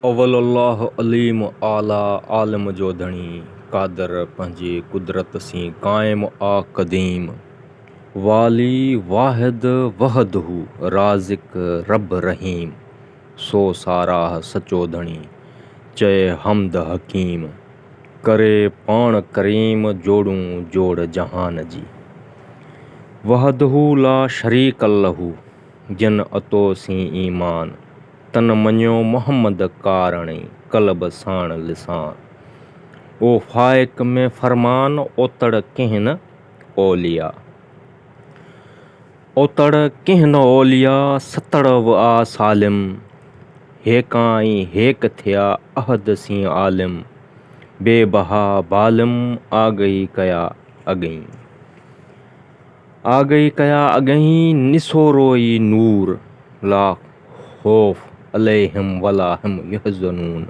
اول الله عليم اعليٰ عالم جو ڌڻي قادر پنهنجي قدرت سين قائم آ قديم والي واحد وحده رازق رب رحيم سو ساراهه سچو ڌڻي چئي حمد حڪيم ڪري پاڻ ڪريم جوڙون جوڙ جهان جي وحده لا شريڪ الله جن عطو سين ايمان تن مڃيو محمد ڪارڻي قلب ساڻ لسان. او فائق ۾ فرمان اوتڙ ڪنهن نه اوليا. اوتڙ ڪنهن نه اوليا ستڙ و آ سالم. هيڪان ۽ هيڪ ٿيا احد سين عالم. بي بها بالم آگهي ڪيا اڳئين. آگهي ڪيا اڳهين نسورو ئي نور لا خوف عليهم ولا هم يحزنون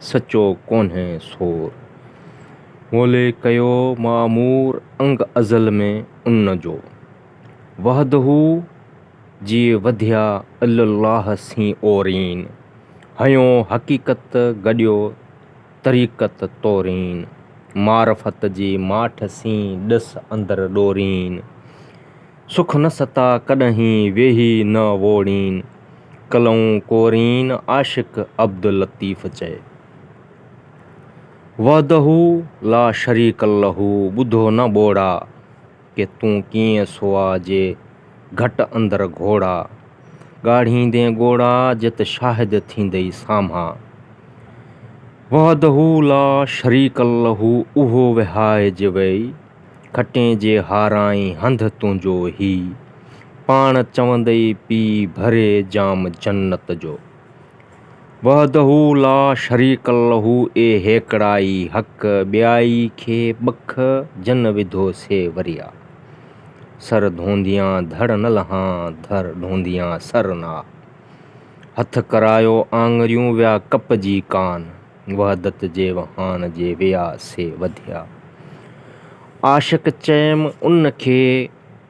سچو ڪونهي سور مولي ڪيو معمور انگ ازل ۾ ان جو وحده جي وڌيا الا الله سين اورين هنيو حقيقت گڏيو طريقت تورين، معرفت جي ماٺ سين ڏس اندر ڏورين، سک نه ستا ڪڏهين ويهي نه ووڙين، ڪلئون ڪورين عاشق عبداللطيف چئي. وحده لا شريڪ له ٻڌو نه ٻوڙا. ڪي تون ڪيئن سوا جي گهٽ اندر گهوڙا، ڳاڙهيندين ڳوڙها جت شاهد ٿيندئي سامها. وحده لا شريڪ له اهو وهائج ويئي، کٽين جي هارائين هنڌ تنهنجو هي، پاڻ چوندئي پي ڀري جام جنت جو. وحده لا شريڪ له اي هيڪڙائي حق ٻيائي کي ٻک جن وڌو سي وريا سر ڌونديان ڌڙ نه لهان ڌڙ ڌونديان سر نه آ هٿ ڪرايو آڱريون ويا ڪپجي ڪان وحدت جي وهان جي ويا سي وڌيا عاشق چيم ان کي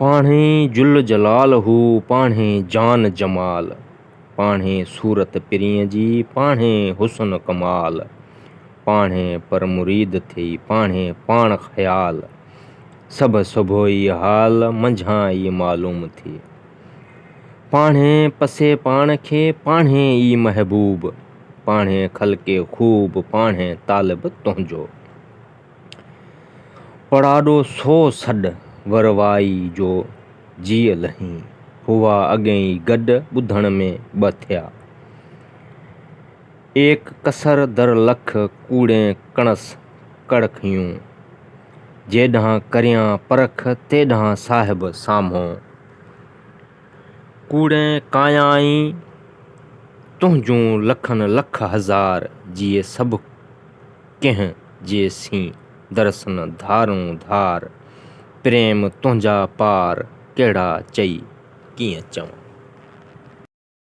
پاڻهي جل جلال هو، پاڻهي جان جمال، پاڻهي صورت پرينء جي، پاڻهي حسن ڪمال، پاڻهي پر مريد ٿئي، پاڻهي پاڻ خيال، سڀ سڀوئي حال، منجهان ئي معلوم ٿئي. پاڻهي پسي پاڻ کي، پاڻهي ئي محبوب، پاڻهي خلقي خوب، پاڻهي طالب تنهنجو. پڙاڏو سو سڏ وروائي جو جيء لهين. هئا اڳين ئي گڏ ٻڌڻ ۾ ٻه ٿيا. ايڪ ڪسر در لک ڪوڙين ڪڻس ڪڙکيون. جيڏانهن ڪريان پرک تيڏانهن صاحب سامهو. ڪوڙين ڪايائين تنهنجون لکن لک هزار جيء سڀ ڪو. ڪنهن جي سين درسن ڌارون ڌار، پريم تنهنجا پار ڪهڙا چئي ڪيئن چوان.